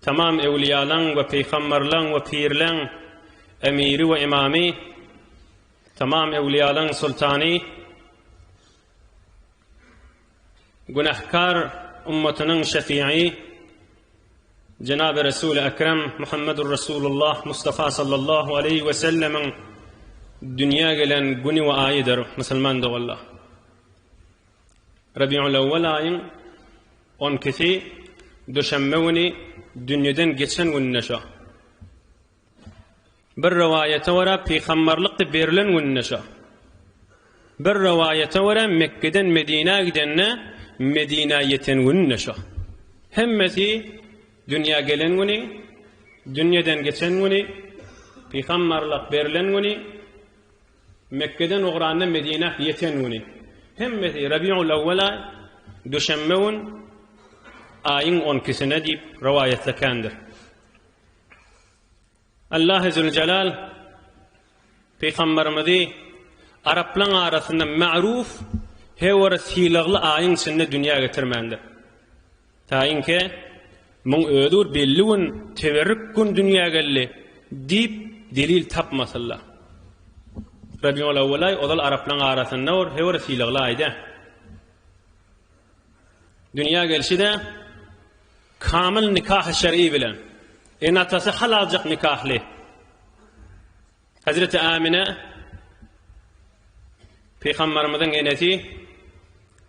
Tamam öwlüýalaň we pygamberleň we pirleň Emiri we Imamy, tamam öwlüýalaň Sultany, günähkar ummatynyň Şefiýi, jenaby Resuli Ekrem Muhammedur Resulullah Mustafa sallallahu aleýhi we sellemiň dünýä gelen güni we aýydyr, musulman doganlar. Rabiulawwal aýyň on ikisi duşenbe güni dünýeden geçen gününe şo. Bir rowaýata görä pygamberlikde berilen gününe şo. Bir rowaýata görä Mekgeden Medinä gidende Medinä ýeten gününe şo. Hemmesi dünýä gelen güni, dünýeden geçen güni, pygamberlik berilen güni, Mekgeden ugranda Medinä ýeten güni, hemmesi Rabiul-awwel aý, duşenbe gün, aýyň on ikisine diýip rowaýatda kändir. Allahy züljelal Pygamberimizi araplaň arasynda magruw, hewara sylagly aýyň içinde dünýä getirmändir. Taýynki, muň özi bir belli gün, teberrik gün dünýä geldi, diýip, delil tapmasylla. Rabiulawwalaý ozal araplaň arasynda bir hewer sylagly aýda. Dünýä gelşi-de kamyl nikahy şer'i bilen, ene-atasy hal aljak nikahly. Hazreti Amine Pygamberimiziň enesi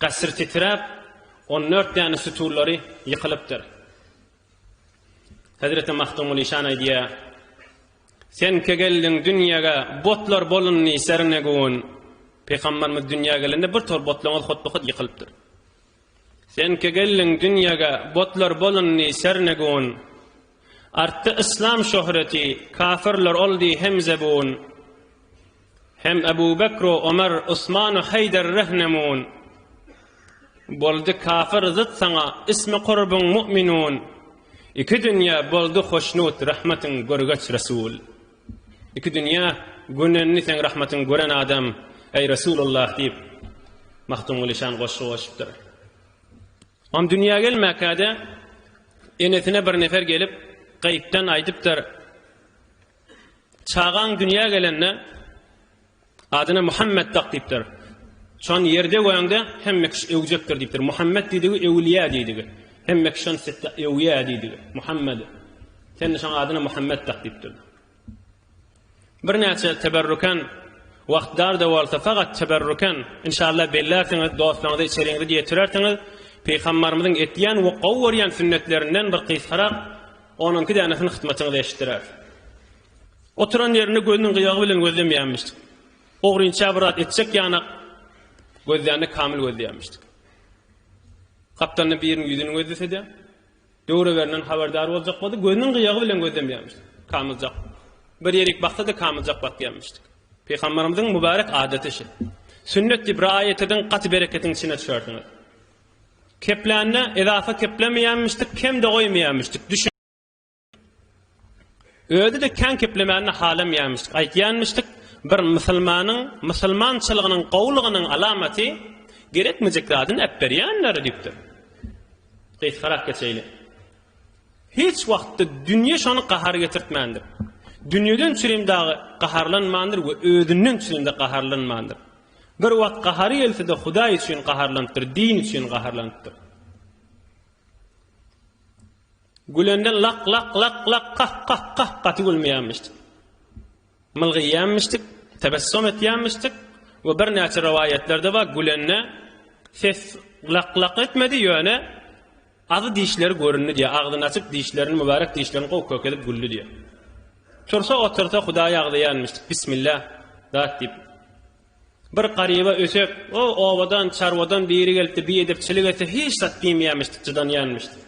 Gasyr titräp, on dört däne sütünleri ýykylypdyr. Hezreti Magtymguly şan aýdýar, Senke geldiň dünýäge, botlar bolundy sernegun. Pygamberimiz dünýä gelende bir tor botlaryň hotby-hot ýykylypdyr. Senke geldiň dünýäge, botlar bolundy sernegun. Artdy yslam şöhreti, kafirler ol diý hem zebun. Hem Ebu Bekro, Omer, Usmanu Heýder rehnemun. Boldy kafir zyt saňa, ismi kurbun mu'minun. Iki dünýä boldy hoşnut, rahmatyň görgeç Resul. Iki dünýä gönendi seň rahmatyň gören adam, eý Resulullah diýip, Magtymguly şan goşgy goşupdyr. Onuň dünýä gelmäkäde enesine bir nefer gelip, gaýypdan aýdypdyr, Çagaň dünýä gelende, adyna Muhammet dak diýipdir. Şon ýerde göräňde hemme kişi öwjekdir diýipdir. Muhammet diýdigi öwliýä diýdigi. Hemme kişi şon sitde öwýä diýdigi. Muhammet. Sen şoň adyna Muhammet dak diýipdir. Birnäçe teberrüken wagt dar-da bolsa sagat teberrüken inşallah bellärsiňiz dostlaňyza içeriňizi getirersiňiz Pygambarymyzyň etýän we gowy görýän sünnetlerinden bir gysgarak on iki dänesini hyzmatyňyza eşitdiräs. Oturan ýerini gözüniň gyýagy bilen gözlemýänmişdik. Ogrynça bir zat etjek ýanak gözlände kamyl gözleýänmişdik. Gapdalynda biriniň ýüzüni gözlese-de, Döwreberinden habardar boljak boldy. Gözüniň gyýagy bilen gözlemýärmişdik. Kamyljak. Bir ýerik baksa-da kamyljak bakýarmyşdyk. Pygamberimiziň mübarek adaty şu. Sünnet diýip raýat ediň, gaty bereketiň içine düşersiňiz. Keplände edafa keplemeýärmişdik, kem-de goýmaýarmyşdyk. Özi-de kän keplemänini halamýarmyşdyk. Aýtýarmyşdyk, bir musulmanyň, musulmançylygynyň gowulygynyň alamaty gerekmejek zadyny äpberýändir diýipdir. Gysgarak geçeýli. Hiç wagtda dünýe şony gahar getirtmändir. Dünýeden çürim dagy gaharlanmandyr we özünden çürim-de gaharlanmandyr. Bir wagt gahary gelse-de Hudaý üçin gaharlanypdyr, din üçin gaharlanypdyr. Gülende lak lak lak lak kah kah kah gaty gülmeýänmişdik. Mylgyýanmişdik, tebessum etýänmişdik we birnäçe rowaýatlarda bar gülende ses lak lak etmedi ýöne agy dişleri göründi diýýär. Agzyny açyp dişlerini mübärek dişlerini gowy kök edip güldi diýýär. Tursa otursa hudaýy agzaýanmişdik. Bismillah zat diýip. Bir garyba ösek, O, obadan, çarwadan biri gelipdi, biedepçilik etse, hiç zat diýmeýärmişdik, jydanýarmyşdyk.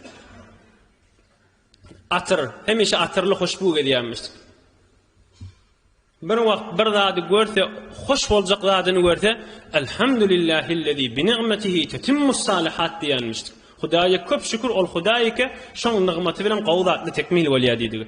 Atyr, hemişe atyrly hoşbu gezýärmişdik. Bir wagt bir zady görse, hoş boljak zadyny görse, Elhamdulillahillezî bi ni'metihî tetimmus salihat diýermişdik. Hudaýa köp şükür, ol Hudaý eke, şoň nygmaty bilen gowy zatlar tekmil bolýar diýdigi.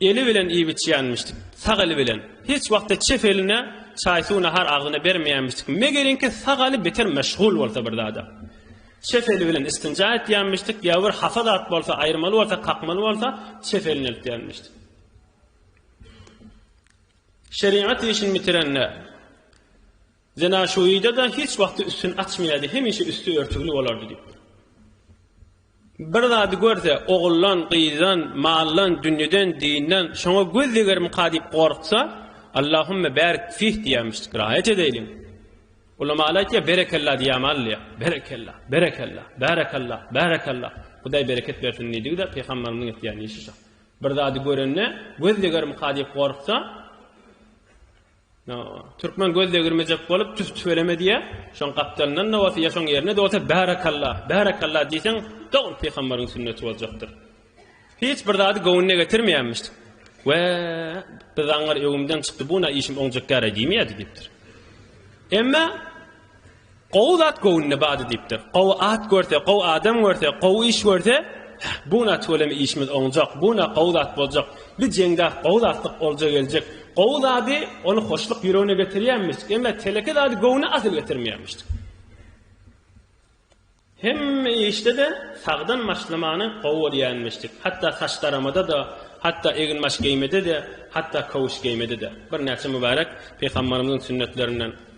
Eli bilen iýip-içýänmişdik. Sag eli bilen. Hiç wagtda çep eline çaý-suw, nahar agzyna bermeýänmişdik. Megelinki, sag eli beter meşgul bolsa bir zada. Çep eli bilen istinja etýänmişdik, ýa bir hapa zat bolsa, aýyrmaly bolsa, kakmaly bolsa, çep elini eltýänmişdik. Şerigat işini bitirende, Zina şu uýda-da hiç wagty üstüni açmaýardy, hemişe üsti örtügli bolardy diýipdir. Bir zady görse, oguldan, gyzdan, maldan, dünýeden, dinden, şoňa göz degermika diýip gorksa, Allahümme bärik fih diýermiş, rahat edeýliň. Ulamalar aýtýar, berekella diýämi alýar. Berekella, berekella, bärekella, bärekella. Hudaý bereket bersin diýdigi-de pygamberimiziň etýän işi şu. Bir zady görende, göz degermika diýip gorksa, Türkmen göz degirmejek bolup tüf tüweleme diýä. Şoň gapdalyndan da bolsa ýa şoň ýerine de bolsa Bärakalla, bärakalla diýseň dogry pygamberiň sünneti boljakdyr. Hiç bir zady göwnüne getirmeýänmiş. We bir zaňňar öwümden çykdy bu na işim oňjak gäre diýmeýärdi diýipdir. Emma Gowy zat göwnüne bady diýipdir. Gowy at görse, gowy adam görse, gowy iş görse, Buna tüweleme işimiz oňjak, buna gowy zat boljak, bi jeňde gowy zatlyk olja geljek. Gowy zady ony hoşluk ýüregine getirýänmişdik, emma teleke zady göwne asyl getirmeýänmişdik. Hemme işde-de sagdan başlamany gowy görýänmişdik. Hatda saç daramada-da, hatda egin-baş geýmede-de, hatda köwüş geýmede-de. Birnäçe mübärek pygambarymyzyň sünnetlerinden